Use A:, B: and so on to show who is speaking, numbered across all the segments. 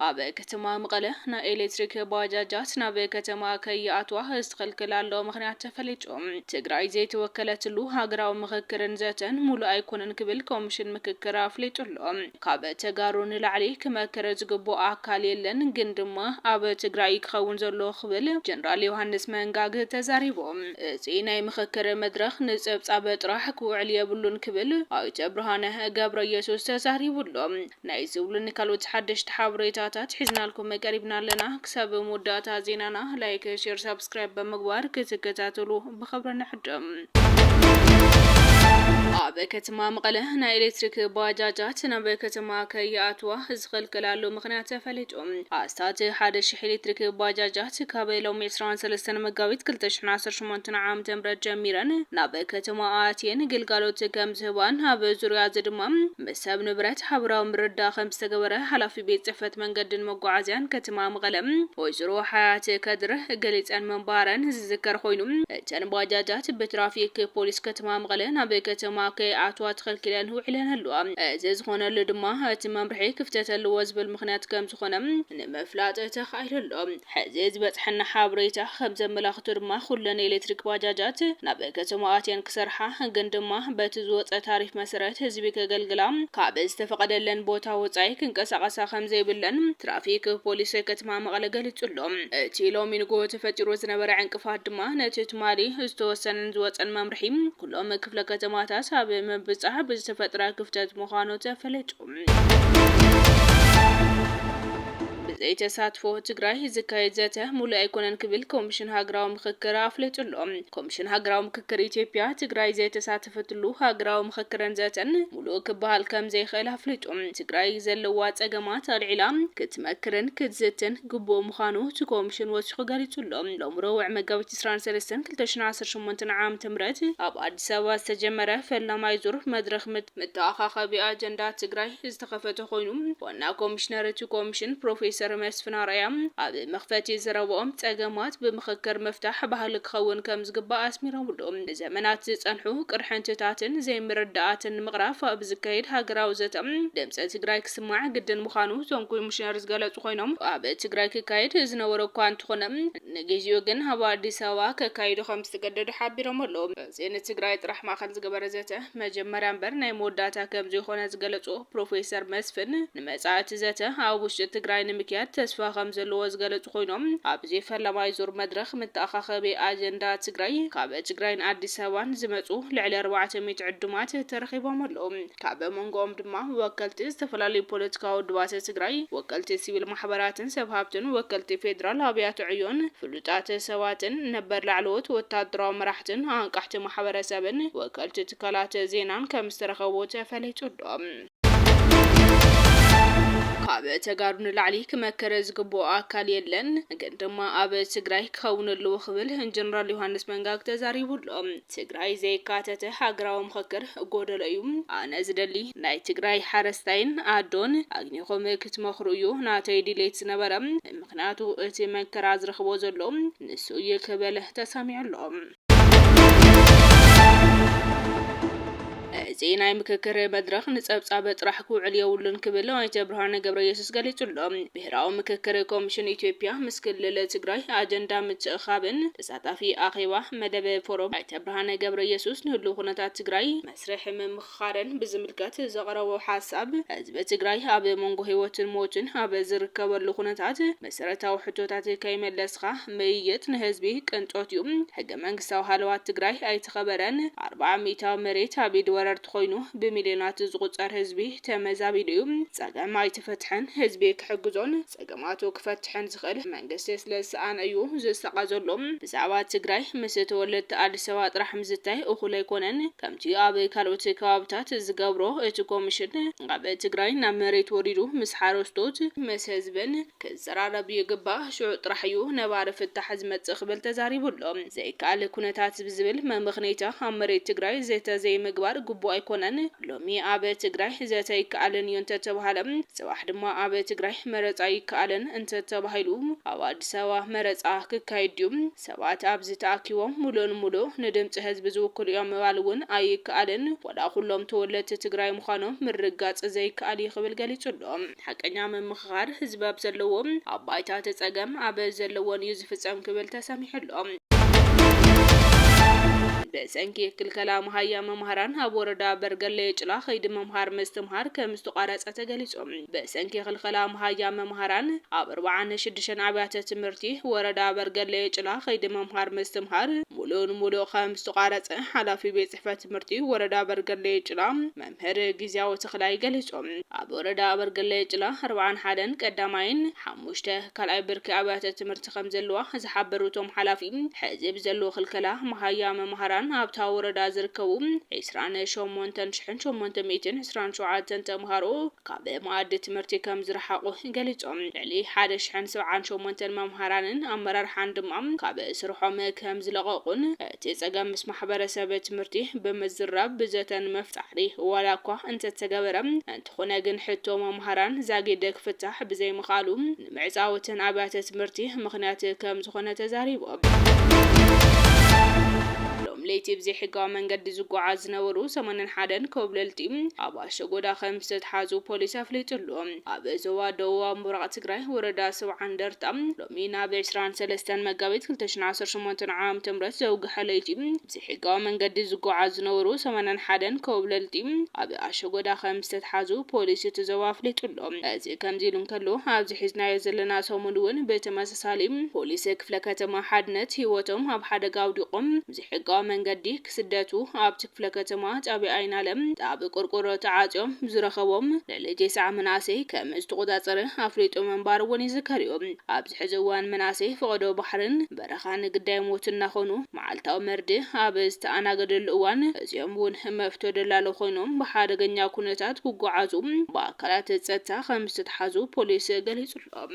A: ኣብ ከተማ መቐለ ናይ ኤሌክትሪክ ባጃጃት ናብ ከተማ ከይኣትዋ ዝተኸልከላሉ ምኽንያት ተፈሊጡ። ትግራይ ዘይተወከለትሉ ሃገራዊ ምኽክርን ዘተን ሙሉእ ኣይኮነን ክብል ኮሚሽን ምክክር ኣፍሊጡ ኣሎ። ካብ ተጋሩ ንላዕሊ ክመክር ዝግብኦ ኣካል የለን ግን ድማ ኣብ ትግራይ እዩ ክኸውን ዘለዎ ክብል ጀነራል ዮሃንስ መንጋግ ተዛሪቡ። እዚ ናይ ምኽክር መድረኽ ንፀብፃብ ጥራሕ ክውዕል የብሉን ክብል ኣይተ ብርሃነ ገብረየሱስ ተዛሪቡ ኣሎ። ናይ እዚ ውሉን ካልኦት ሓደሽቲ ሓበሬታታት ሒዝናልኩም ቀሪብና ኣለና። ክሳብ መወዳእታ ዜናና ላይክ፣ ሼር፣ ሳብስክራይብ ብምግባር ክትከታተሉ ብኽብሪ ንዕድም። ኣብ ከተማ መቐለ ናይ ኤሌክትሪክ ባጃጃት ናብ ከተማ ከይኣትዋ ዝኽልከላሉ ምኽንያት ተፈሊጡ። ኣስታት ሓደ ሽሕ ኤሌክትሪክ ባጃጃት ካብ ሎሚ ዕስራን ሰለስተን መጋቢት ክልተ ሽሕን ዓሰርተ ሸሞንተን ዓመተ ምህረት ጀሚረን ናብ ከተማ ኣትየን ግልጋሎት ከምዝህባን ኣብ ዙርያ'ዚ ድማ ምስ ሰብ ንብረት ሓበራዊ ምርድዳእ ከምዝተገበረ ሓላፊ ቤት ፅሕፈት መንገድን መጓዓዝያን ከተማ መቐለ ወይዘሮ ሓያት ከድር ገሊፀን ምንባረን ዝዝከር ኾይኑ እተን ባጃጃት ብትራፊክ ፖሊስ ከተማ መቐለ ናብ ከተማ ከይኣትዋ ተኸልኪለን ውዒለን ኣለዋ። እዚ ዝኾነሉ ድማ እቲ መምርሒ ክፍተት ኣለዎ ዝብል ምኽንያት ከምዝኾነ ንምፍላጥ ተኻኢሉ ኣሎ። ሕዚ ዝበፅሐና ሓበሬታ ከምዘመላኽቶ ድማ ኩለን ኤሌክትሪክ ባጃጃት ናብ ከተማ ኣትየን ክሰርሓ ግን ድማ በቲ ዝወፀ ታሪፍ መሰረት ህዝቢ ከገልግላ ካብ ዝተፈቐደለን ቦታ ወፃኢ ክንቀሳቐሳ ከምዘይብለን ትራፊክ ፖሊስ ከተማ መቐለ ገሊፁ ኣሎ። እቲ ሎሚ ንጉሆ ተፈጢሩ ዝነበረ ዕንቅፋት ድማ ነቲ ትማሊ ዝተወሰነን ዝወፀን መምርሒ ኩሎም ክፍለ ከተማታት ኣብ ምብፃሕ ብዝተፈጥረ ክፍተት ምዃኑ ተፈሊጡ። ብዘይ ተሳትፎ ትግራይ ዝካየድ ዘተ ሙሉእ ኣይኮነን ክብል ኮሚሽን ሃገራዊ ምኽክር ኣፍሊጡ ኣሎ። ኮሚሽን ሃገራዊ ምክክር ኢትዮጵያ ትግራይ ዘይተሳተፈትሉ ሃገራዊ ምኽክርን ዘተን ሙሉእ ክበሃል ከምዘይኽእል ኣፍሊጡ ትግራይ ዘለዋ ፀገማት ኣልዒላ ክትመክርን ክትዝትን ግቡእ ምዃኑ እቲ ኮሚሽን ወሲኹ ገሊፁ ኣሎ። ሎሚ ረቡዕ መጋቢት ዕስራን ሰለስተን ክልተ ሽሕን ዓሰርተ ሸሞንተን ዓመተ ምህረት ኣብ ኣዲስ ኣበባ ዝተጀመረ ፈላማይ ዙር መድረኽ መተኣኻኸቢ ኣጀንዳ ትግራይ ዝተኸፈተ ኮይኑ፣ ዋና ኮሚሽነር እቲ ኮሚሽን ፕሮፌሰር መስፍን ኣርኣያ ኣብ መኽፈቲ ዘረብኦም ፀገማት ብምኽክር ምፍታሕ ባህሊ ክኸውን ከምዝግባእ ኣስሚሮምሉ። ንዘመናት ዝፀንሑ ቅርሕንትታትን ዘይምርድዳኣትን ንምቕራፍ ኣብ ዝካየድ ሃገራዊ ዘተ ድምፂ ትግራይ ክስማዕ ግድን ምዃኑ እቶም ኮሚሽነር ዝገለፁ ኮይኖም፣ ኣብ ትግራይ ክካየድ ዝነበሮ እኳ እንተኾነ ንግዚኡ ግን ኣብ ኣዲስ ኣበባ ከካይዶ ከምዝተገደዱ ሓቢሮም ኣለው። እዚ ንትግራይ ጥራሕ ማእኸል ዝገበረ ዘተ መጀመርያ እምበር ናይ መወዳእታ ከምዘይኾነ ዝገለፁ ፕሮፌሰር መስፍን፣ ንመፃኢ እቲ ዘተ ኣብ ውሽጢ ትግራይ ንምክያድ ተስፋ ከምዘለዎ ዝገለፁ ኮይኖም፣ ኣብዚ ፈለማይ ዙር መድረኽ መተኣኻኸቢ ኣጀንዳ ትግራይ ካብ ትግራይን ኣዲስ ኣበባን ዝመፁ ልዕሊ ኣርባዕተ ሚእቲ ዕዱማት ተረኺቦም ኣለው። ካብ መንጎኦም ድማ ወከልቲ ዝተፈላለዩ ፖለቲካዊ ውድባት ትግራይ፣ ወከልቲ ሲቪል ማሕበራትን ሰብ ሃብትን፣ ወከልቲ ፌዴራል ኣብያተ ዕዮን፣ ፍሉይ ፍሉጣት ሰባትን ነበር ላዕለዎት ወታደራዊ መራሕትን ኣንቃሕቲ ማሕበረሰብን ወከልቲ ትካላት ዜናን ከም ዝተረኸቡ ተፈሊጡ'ሎ። ካብ ተጋሩ ንላዕሊ ክመክር ዝግብኦ ኣካል የለን፣ ግን ድማ ኣብ ትግራይ ክኸውን ኣለዎ ክብል ጀነራል ዮሃንስ መንጋግ ተዛሪቡ'ሎ። ትግራይ ዘየካተተ ሃገራዊ ምኽክር ጎደሎ እዩ፣ ኣነ ዝደሊ ናይ ትግራይ ሓረስታይን ኣዶን ኣግኒኹም ክትመኽሩ እዩ ናተይ ድሌት ዝነበረ። ምኽንያቱ እቲ መከራ ዝረኽቦ ዘሎ ንሱ እዩ ክብል ተሰሚዑ ኣሎ። እዚ ናይ ምክክር መድረኽ ንፀብፃብ ጥራሕ ክውዕል የብሉን ክብል ኣይተ ብርሃነ ገብረየሱስ ገሊፁ ኣሎ። ብሄራዊ ምክክር ኮሚሽን ኢትዮጵያ ምስ ክልል ትግራይ ኣጀንዳ ምትእኽኻብን ተሳታፊ ኣኼባ መደብ ፎረም ኣይተ ብርሃነ ገብረየሱስ ንህሉው ኩነታት ትግራይ መስርሕ ኻረን ብዝምልከት ዘቕረቦ ሓሳብ፣ ህዝቢ ትግራይ ኣብ መንጎ ህይወትን ሞትን ኣብ ዝርከበሉ ኩነታት መሰረታዊ ሕቶታት ከይመለስኻ ምይይጥ ንህዝቢ ቅንጦት ዩ፣ ሕገ መንግስታዊ ሃለዋት ትግራይ ኣይተኸበረን፣ ኣርብዓ ሚኢታዊ መሬት ኣብ ኢድ ወረርቲ ኾይኑ ብሚልዮናት ዝቑፀር ህዝቢ ተመዛቢሉ ዩ፣ ፀገም ኣይተፈትሐን፣ ህዝቢ ክሕግዞን፣ ፀገማቱ ክፈትሕን ዝኽእል መንግስቲ ስለዝሰኣነ እዩ ዝሳቐ ዘሎ። ብዛዕባ ትግራይ ምስ ተወለድቲ ኣዲስ ኣበባ ጥራሕ ምዝታይ እኹል ኣይኮነን። ከምቲ ኣብ ካልኦት ከባብታት ዝገብሮ እቲ ኮሚሽን ካብ ትግራይ ናብ መሬት ወሪዱ ምስ ሓረስቶት፣ ምስ ህዝብን ክዘራረብ ይግባእ ሽዑ ጥራሕ እዩ ነባሪ ፍታሕ ዝመፅእ ክብል ተዛሪቡ ኣሎ። ዘይከኣል ኩነታት ብዝብል መመኽነይታ ኣብ መሬት ትግራይ ዘተ ዘይምግባር ግቡእ ኣይኮነን። ሎሚ ኣብ ትግራይ ዘተ ኣይከኣልን እዩ እንተተብሃለ ፅባሕ ድማ ኣብ ትግራይ መረፃ ይከኣለን እንተተባሂሉ ኣብ ኣዲስ ኣበባ መረፃ ክካየድ ድዩ? ሰባት ኣብዚ ተኣኪቦም ሙሉእ ንሙሉእ ንድምፂ ህዝቢ ዝውክሉ እዮም ምባል እውን ኣይከኣልን። ዋላ ኩሎም ተወለድቲ ትግራይ ምዃኖም ምርግጋፅ ዘይከኣል እዩ ክብል ገሊፁ ኣሎ። ሓቀኛ ምምኽኻር ህዝቢ ኣብ ዘለዎ፣ ኣብ ባይታ እቲ ፀገም ኣብ ዘለዎን እዩ ዝፍፀም ክብል ተሰሚዑ ኣሎ። ብሰንኪ ክልከላ መሃያ መማህራን ኣብ ወረዳ በርገሌ ጭላ ከይዲ ምምሃር ምስትምሃር ከም ዝተቋረፀ ተገሊፁ። ብሰንኪ ክልከላ መሃያ መማህራን ኣብ ኣርብዓን ሽዱሽተን ኣብያተ ትምህርቲ ወረዳ በርገሌ ጭላ ከይዲ ምምሃር ምስትምሃር ሙሉእ ንሙሉእ ከም ዝተቋረፀ ሓላፊ ቤት ቤትጽሕፈት ትምህርቲ ወረዳ ኣበርገሌ ጭላ መምህር ግዝያው ተኽላይ ገሊጹ። ኣብ ወረዳ ኣበርገሌ ጭላ ኣርብዓን ሓደን ቀዳማይን ሓሙሽተ ካልኣይ ብርኪ ኣብያተ ትምህርቲ ከምዘለዋ ዝሓበሩ እቶም ሓላፊ ሕዚ ብዘሎ ክልከላ መሃያ መማህራን ኣብታ ወረዳ ዝርከቡ ዕስራን ሸሞንተን ሽሕን ሸሞንተ ሚእትን ዕስራን ሸውዓተን ተማሃሮ ካብ መኣዲ ትምህርቲ ከምዝረሓቑ ገሊጾም። ልዕሊ ሓደ ሽሕን ሰብዓን ሸሞንተን መማህራንን ኣመራርሓን ድማ ካብ ስርሖም ከምዝለቐቑን እቲ ፀገም ምስ ማሕበረሰብ ትምህርቲ ብምዝራብ ብዘተ ንምፍ ፃዕሪ ዋላ እኳ እንተተገበረ እንተኾነ ግን ሕቶ መምሃራን ዛጊድ ክፍታሕ ብዘይምኽኣሉ ንምዕፃው እተን ኣብያተ ትምህርቲ ምኽንያት ከምዝኾነ ተዛሪቦም። ሎም ለይቲ ብዘይሕጋዊ መንገዲ ዝጓዓዝ ዝነበሩ ሰማንያን ሓደን ኮብለልቲ ኣብ ኣሸጎዳ ከምዝተትሓዙ ፖሊስ ኣፍሊጡ ኣሎ። ኣብ ዞባ ደቡባዊ ምብራቕ ትግራይ ወረዳ ሰብዓ እንደርታ፣ ሎሚ ናብ ዕስራን ሰለስተን መጋቢት ክልተ ሽሕን ዓሰርተ ሸሞንተን ዓም ዘውግሐ ለይቲ ብዘይሕጋዊ መንገዲ ዝጎዓዙ ዝነበሩ ሰማንያን ሓደን ኮብለልቲ ኣብ ኣሸጎዳ ከምዝተትሓዙ ፖሊስ እቲ ዞባ ኣፍሊጡ'ሎ። እዚ ከምዚ ኢሉ እንከሎ ኣብዚ ሒዝናዮ ዘለና ሰሙን እውን ብተመሳሳሊ ፖሊስ ክፍለ ከተማ ሓድነት ህይወቶም ኣብ ሓደጋ ኣውዲቖም ብዘይሕጋዊ መንገዲ ክስደቱ ኣብቲ ክፍለ ከተማ ጣብያ ኣይናለም ኣብ ቆርቆሮ ተዓፅዮም ዝረኸቦም ልዕሊ ቴስዓ መናእሰይ ከም ዝተቖፃፀረ ኣፍሊጡ ምንባሩ እውን ይዝከር እዩ። ኣብዚ ሕዚ እዋን መናእሰይ ፈቐዶ ባሕርን በረኻን ግዳይ ሞት እናኾኑ መዓልታዊ መርድእ ኣብ ዝተኣናገደሉ እዋን እዚኦም እውን መፍቶ ደላሎ ኮይኖም ብሓደገኛ ኩነታት ክጓዓዙ ብኣካላት ፀጥታ ከም ዝተትሓዙ ፖሊስ ገሊፁ ኣሎ።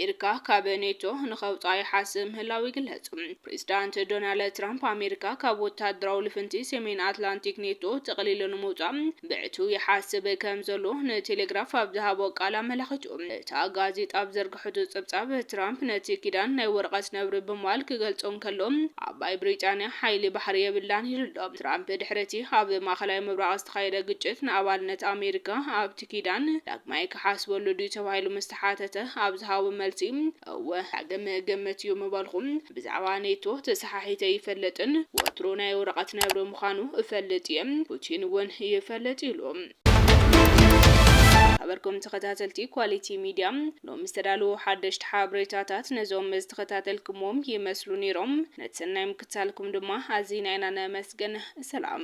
A: ኣሜሪካ ካብ ኔቶ ንኸውፃ ይሓስብ ምህላው ይግለጽ። ፕሬዚዳንት ዶናልድ ትራምፕ ኣሜሪካ ካብ ወታደራዊ ልፍንቲ ሰሜን ኣትላንቲክ ኔቶ ጥቕሊሉ ንምውፃእ ብዕቱ ይሓስብ ከም ዘሎ ንቴሌግራፍ ኣብ ዝሃቦ ቃል ኣመላኺቱ። እታ ጋዜጣ ኣብ ዘርግሐቱ ጸብጻብ ትራምፕ ነቲ ኪዳን ናይ ወረቐት ነብሪ ብምባል ክገልጾ እንከሎ ዓባይ ብሪጣንያ ሓይሊ ባሕሪ የብላን ኢሉ ኣሎ። ትራምፕ ድሕሪ እቲ ኣብ ማእከላይ ምብራቕ ዝተኻየደ ግጭት ንኣባልነት ኣሜሪካ ኣብቲ ኪዳን ዳግማይ ክሓስበሉ ድዩ ተባሂሉ ምስ ተሓተተ ኣብ ዝሃቦ መልሲ እወ ዳግም እግምት እዩ ምበልኹ። ብዛዕባ ኔቶ ተሰሓሒተ ኣይፈልጥን፣ ወትሩ ናይ ወረቐት ነብሪ ምዃኑ እፈልጥ እየ፣ ፑቲን እውን ይፈልጥ ኢሉ። ዝኸበርኩም ተኸታተልቲ ኳሊቲ ሚድያ ሎሚ ዝተዳለዉ ሓደሽቲ ሓበሬታታት ነዞም ዝተኸታተልኩምዎም ይመስሉ ነይሮም። ነቲ ሰናይ ምክትታልኩም ድማ ኣዚና ኢና ነመስግን። ሰላም!